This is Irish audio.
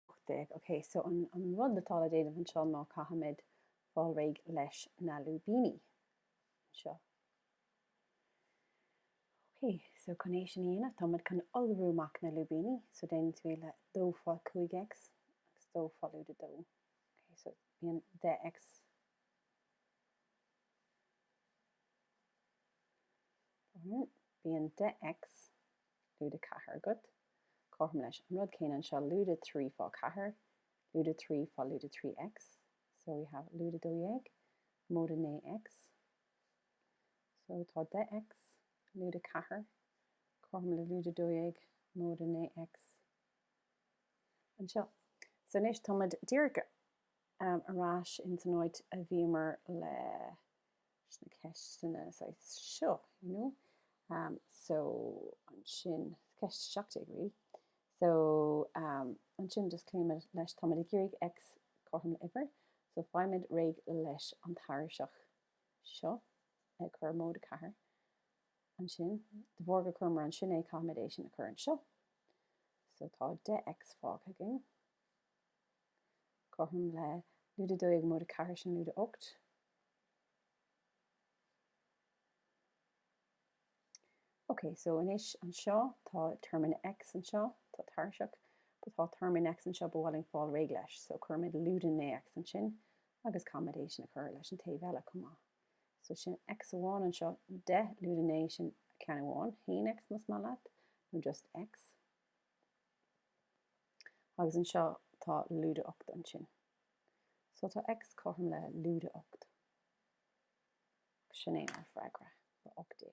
18, OK, so an rud atá le déanamh anseo ná caithfimid fáil réidh leis na lúibíní anseo. OK, so chun é sin a dhéanamh, táimid chun iolrú amach na lúibíní, so déanann tú é le 2 fá 5X agus 2 fá lúide 2. OK, so bíonn 10X bíonn 10X lúide ceathair agat, cothrom leis an rud céanna anseo, lúide trí fá ceathair, lúide trí fá lúide trí X, so we have lúide dó dhéag, móide naoi X, so tá deich X, lúide ceathair, cothrom le lúide dó dhéag, móide naoi X, anseo. So anois táimid díreach ar ais insan áit a bhíomar le leis na ceisteanna saghas seo, you know. Um, so, ansin, ceist 17 really. So, um, ansin just cloímid leis, táimid ag iarraidh X cothrom le huimhir, so faighimid réidh leis an tairiseach seo, ag cur móide 4. Ansin, de bharr gur chuireamar ansin é, caithfimid é sin a chur anseo. So, tá 10X fágtha againn. Cothrom le Lúide 12 Móide 4 sin Lúide 8. Ok, so anois anseo tá téarma in x anseo, tá tairseach, but tá téarma in x anseo ba mhaith linn fáil réidh leis, so cuirimid Lúide 9 x ansin agus caithfimid é sin a chur leis an taobh eile chomh maith. So sin x amháin anseo, 10 Lúide 9 sin ceann amháin, 1x más maith leat, nó just x. Agus anseo tá lúide 8 ansin. So tá X cothrom le lúide 8. Sin é ár bhfreagra, le 18.